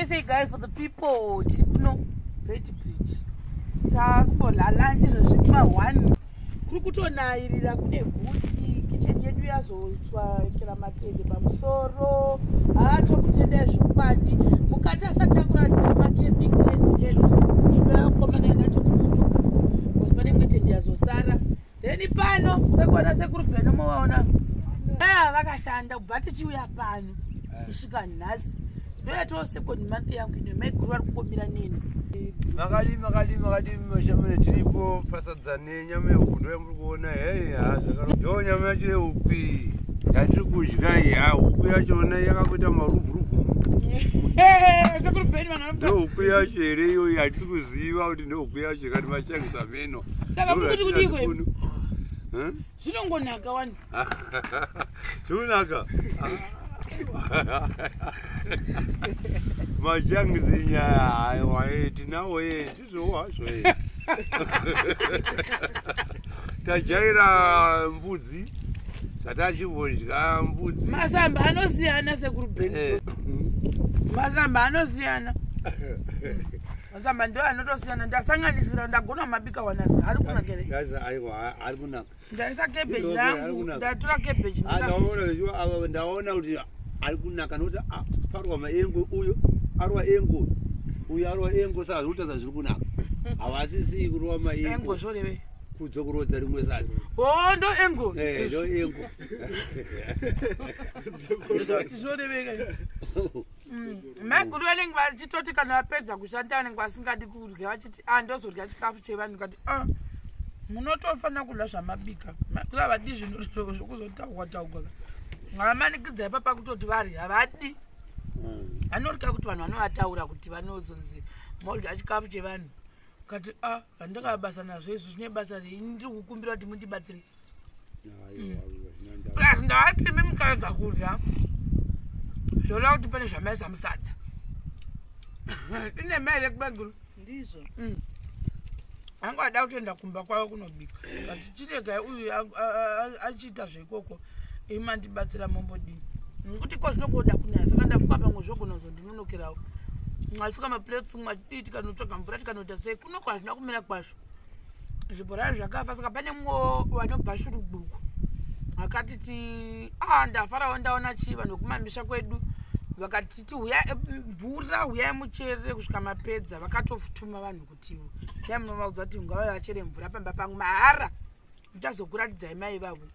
say guys for the people tiri kuno beti bridge takumbolalanje zvazvima one kuri kutonayirira kune guti kicheni yedu yazotswa kira matende pamusoro haa tokutenda yezvokubadi mukati asati akuratidza macamping tens edu imba yakomana yanatokuaa panenge tende yazosara then pano sekuona sekuru beno movaona aya vakashanda kubva tichiuya pano eh. kusvika nhasi ndoyatoo second month yangu ine maiguru vari kungomira neni makadii makadii makadii mashamune tiripo pasadza nenyama yehuku ndoya muri kuona hei ha zvakaro yoo nyama yacho yehuku iyi yatiri kudya iyi ha huku yacho ona yakakuita marubhurubu ndohuku yacho here iyoyi hatisi kuziva kuti ndohuku yacho kati machangisa me ino saka mukuti kudiko zvinongonaka wani zvinonaka majangi zinyaya haiwaye tinawo ye tizvowazvo ye tajaira mbudzi zvatachivonzya mbudzi masamba anosiyana sekurubeni eh. masamba anosiyana Masamba ndo anotosiyana ndasanganisira ndagona mabika wanasi ari kunaka here? Gaza aiwa ari kunaka. Ndaisa cabbage yangu ndatura cabbage. Ah ndaona zviwa ava ndaona kuti ari kunaka nokuti parwa maengo uyo arwa engo uyo arwa engo saka zviri kutaza zviri kunaka havasisii kurova maengo zvoreve kudzo kurodza rimwe sati o oh, ndo engo eh, ndo engo zvoreveka Mm. maiguru vanenge vachitoti kana vapedza kushanda vanenge vasingadi kudya vachiti a ah, ndozodya chikafu chevanhu kati a ah, munotofanira kudya zvamabika maiguru havadi zvinhu zvokuzotaugwa taugwa havamanikidzai papa kutoti vari havadi mm. vanodya kuti vanhu vanovataura kuti vanozonzi modya chikafu chevanhu kati a ah, vandakabasa nazvo izvo zvine basa rei ndiri kukumbira kuti mundibatsirei plus ndati imi mukarega kudya zvoda kuti pane zvamaisa musadza ine mari yekubaguru ndizvo mm. anga ada kutoenda kumba kwavo kunobika but chirega uyu achiita zveikoko imandibatsira mombodii nekuti ko zvinokoda kunaya saka ndafuka pamwe zvogona zvondinonokerawo mwasvika maplates mwachidii tikanotsvaga mvura tikanoita sei kunoko hazvina kumira kwazvo zvibhorani zvakafa saka pane mumwe vanobva shuruduku vakati ti a ah, ndafarawo ndaona chii vanhu vekumamisha kwedu vakati ti huya eh, mvura huyai mucherere kusvika mapedza vakatofutuma vanhu kuti dai munovaudza kuti ngavave vachere mvura pamba pangu mahara ndichazokuratidzai mai vavo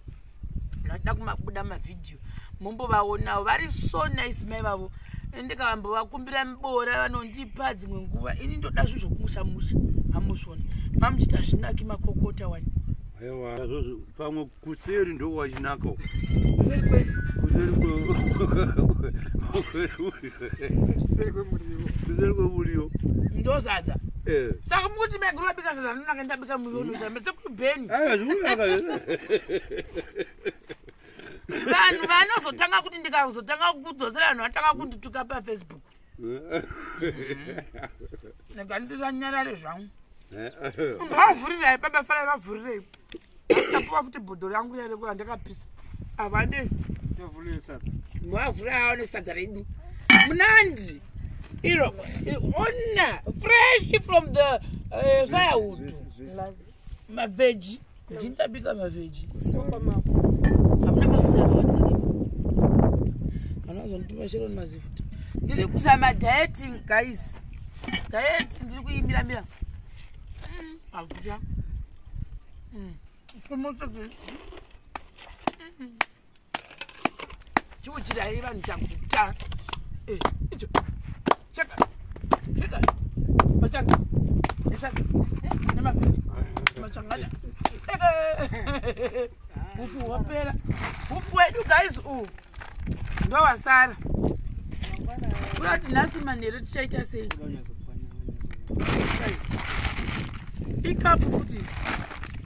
ndachida kumabuda mavhidhiyo mombovaonawo vari so nice mai vavo ndikavambovakumbira miboora vanondipa dzimwe nguva ini ndoda zvinhu zvokumushamusha hamusvoni mamuchita zvinaki makokota wani ewa pamwe kuseri ndo wachinaka kuseri kwe kuseri kwe kuseri kwe muriwo kuseri kwe muriwo ndozadza eh saka mukuti meguru wabika sadza ndinaka ndabika muriwo ndozadza beni vanhu vanozotanga kuti ndikazotanga kukudzosera vanhu vatanga kundituka pafacebook ndikanditanyarare zvangu vavhurirai baba farai vavhurirei apuwa futi bhodho rangu riya rekuva ndakapisa avade mavhura aone sadza redu munandi iro ona fresh from the uh, firewood maveji ndinabika maveji hamuna mafuta anoazonditima chero ni mazifuta ndiri kuzama dieting guys diet ndiri kuimbira mbira akuta mm. mm. mm. chiuchirai vanhu chakuta eh, icho chaka chaka machanga esaka nemafiti machangada ufu hwapera ufu wedu guys u ndowasara kurati nhasi manheru tichaita sei ikapu futi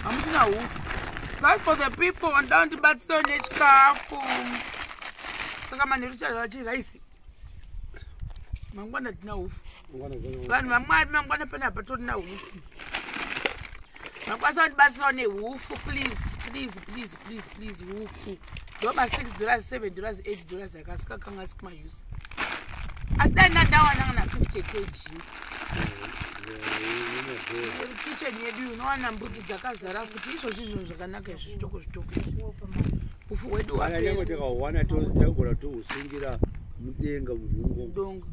hamusina huku guys for the people vanoda kundibatsira nechikafu saka manheru chazvachi rice mangwana tina hufu vanhu vamwari mangwana pane apa torina hufu makwanisa kundibatsirawo nehufu please please please please please hufu ndoba six dollars seven dollars eight dollars akasika kanga asi kumayusi asi dai ndandawana kana 50 kg kitchen yedu unowana mbudzi dzakazara futi izvozvi zvinhu zvakanaka izvi zvitoko zvitoko ufu hwedu hwaanyange takawana tagona tohusungira mudenga mudongo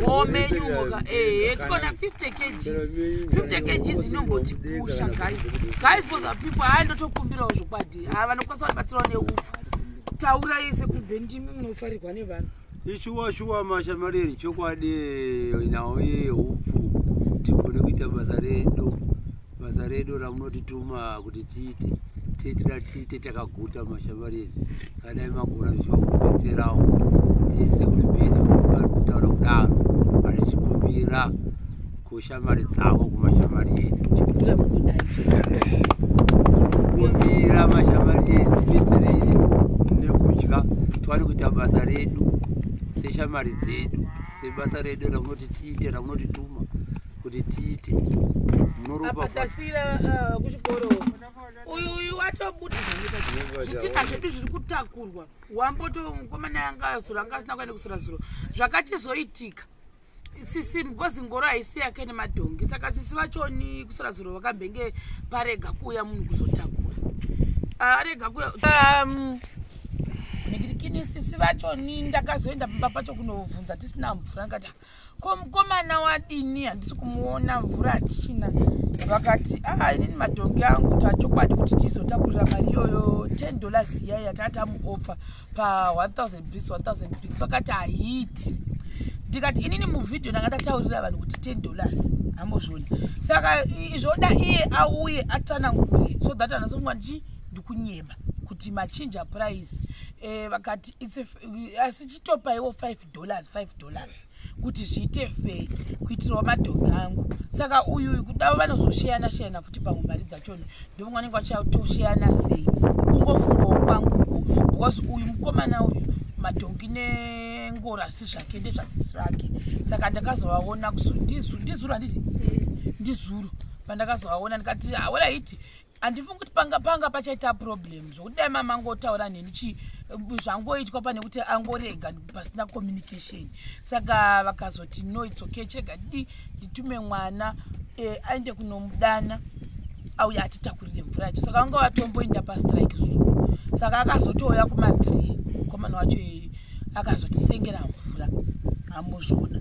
womenyuka ehe tikona 50 kgs 50 kgs inombotipusha guys guys for the people hayi ndotokumbirawo zvokwadi haa vanokwanisa kuti batsirawo neufu taura yese kumbe ndimi munofarirwa nevanhu ishuwa shuwa mashamareri chokwadi nhau yehupfu tigone kuita basa redu basa redu ramunotituma kuti tiite titira tiite takaguta mashamareri kadai magona zvichiva kubetserawo tise kuti bena vari kutaura kudaro vachikumbira kushamari dzavo kumashamari edu kumbira mashamari edu tidetserei nekudya tiwane kuita basa redu seshamari dzedu sebasa redu ramunoti tiite ramunotituma kuti tiite munoropaatasira uh, kuchikoro uyu uyu watobuda zvitinha zvedu zviri kutakurwa wamboto mukomana yanga azura anga asina kuenda kusura zuro zvakachizoitika sisi because ngoro haisi yake nemadhongi saka sisi vachoni kusora zuro vakambenge parega kuuya munhu kuzotakura ah, arega kuya um, ndikini sisi vacho ni ndakazoenda pamba pacho kunobvunza tisina mvura ndikati ko mukomana wadini handisi kumuona mvura hatichina vakati aa ah, inini madhongi angu tachokwadi kuti tizotakurira mari iyoyo ten dollars iya yatatamuopfa pa 1000 bricks 1000 bricks vakati haiti ndikati inini muvhidhio ndanga ndataurira vanhu kuti 10 dollars hambozvioni saka zvoda iye auye atsanangure so that anasonga ndichi ndikunyeba kuti machinja price eh, vakati asi chitopaiwo 5 dollars 5 dollars kuti zviite fei kuitirawo madhogi angu saka uyu uyu kudavo vanozosheyana sheyana futi pamwe mari dzachona ndovamwe vanenge vachatosheyana sei kungofungawo kwangu because uyu mukomana uyu madhongi nengoro asi zvake ndezvasisi vake saka ndakazovaona ndizuru handiti ndizuru pandakazovaona ndikati awela ah, iti handifungi kuti panga panga pachaita problem zvokuti dai mama angotaura neni chi zvangoitwa pane kuti angorega pasina communication saka vakazoti no its okay chirega di nditume mwana eh, aende kunomudana auya atitakurire mvura yacho saka vanga vatomboenda pastrike zuu saka akazotouya kumathree komana wacho akazotisengera mvura hamuzvona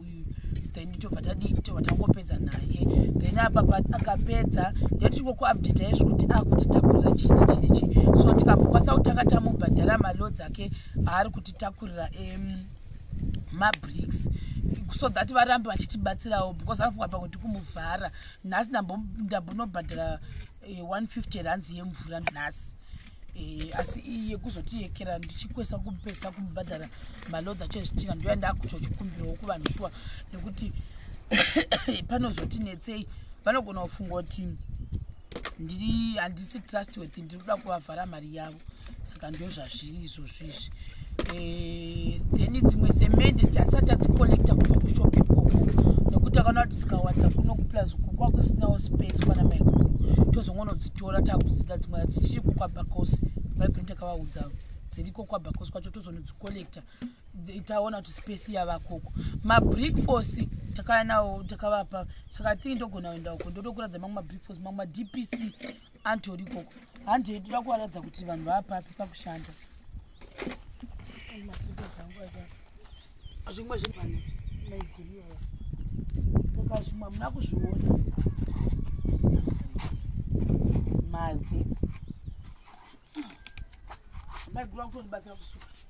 uyu then tobva tadii tobva tangopedza naye then apapa akapedza ndetichikokuupdata izvi kuti akutitakurira chini chini chii so tikambokwanisa kutanga tamubhadhara malo dzake aari kutitakurira mabricks so that varambe vachitibatsirawo because anofunga pakuti kumuvhara nhasi ndambonobhadhara 150 eh, rands yemvura nhasi Eh, asi iyi yekuzotiyekera ndichikwesa kupesa kumubhadhara maloads acho ezvitina ndoya ndakutochikumbirawo kuvanhu shuwa nekuti panozoti netsei vanogona kufunga kuti ndiri handisi trustworthy ndiri kuda kuvavhara mari yavo saka ndozvazviri izvozvo izvi eh, then dzimwe semende dzasati adzicollecta kubva kushop ikoko nekuti akana kuti dzikawadza kuno kuplus uku kwakusinawo space kwana maiguru tozongonodzitora takudzida dzimwe adzichiri kukwabacos maiguru ndakavaudza dziriko kwabacos kwacho tozonodzicollecta taona kuti space yavakoko mabreakfast takaya nawo takavapa saka thingi ndogona kuenda uko ndotokuradza mamwe mabreakfast mamwe madpc antori ikoko handi yedu da kuvaratidza kuti vanhu vaapapi pakushanda zvimwe zvivana maigiriyoa saka zvimwe hamuna kuzviona mave maiguru akutondibatsira kusuka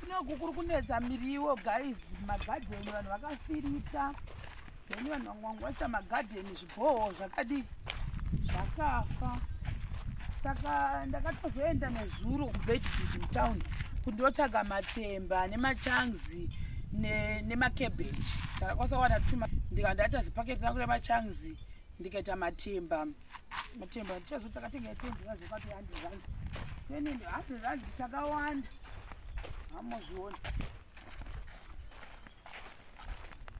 kunoku kuri kunetsa miriwo guys magadheni vanhu vakafirita then vanhu vangwangwaisa magadheni zviboho zvakadii zvakafa saka ndakatozoenda nezuro kubedfid mutown kundotsvaga matemba nemachanzi nemacabbage saka kwasawana tuma ndikandati azipaketi rangu remachanzi ndikaita matemba ne matemba tichazo takatenga yetendi vazo vati handi zvanzi tenende handi zvanzi takawanda hamozviona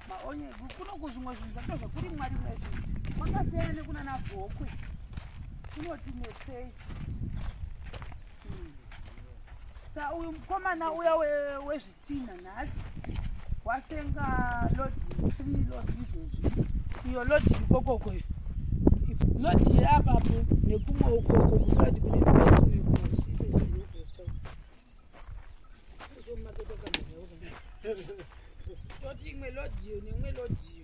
maonye kuno kuzvimwe zvinhu zvato zvekuri mwari mwezvi kwakasiyana nekuna nabhokwe kunoti nesei hmm. sa uyu mukomana uya wezvi Tina nhasi wasenga lodi three lodi izvozvi iyo lodi ikokoko iyo lodi yeapapo nekumwe ukoko musati kune mbesu uyu toti imwe lodi iyo neimwe lodi iyo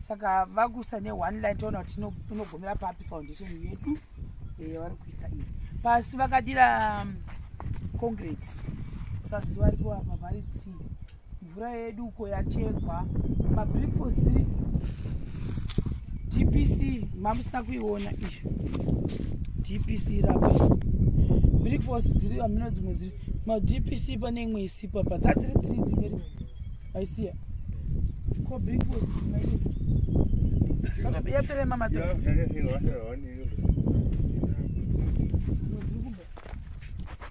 saka vakusa ne one line toona kuti inogomera papi foundation yedu yavari kuita iyi pasi vakadira um, concrete pazuva ripo apa variti mvura yedu uko yachekwa mabrikfast three dpc mamusina kuiona izvo dpc rapa brikfast dziri amino dzimwe dziri madpc pane imwe isipo apa dzadziri three dzimwe rimwe I see it. Ko bring food. Kaka ya pere mama to. Ya pere ni wa ro ni yo.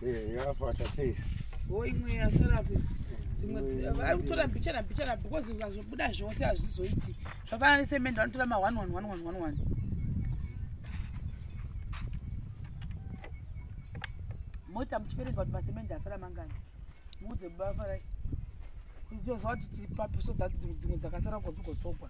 Eh, ya pa ta face. Wo imwe ya serapi. Dzimwe ari kutora mbicha na mbicha na because ukazobuda zvose azvizoiti. Zvafana ni semendo anotora ma 1 1 1 1 1 1. Mota muchiverenga kuti masemende asara mangani. Ude baba rai. Ndizo zvati tipapi so that dzimwe dzakasara kodziko tokwa.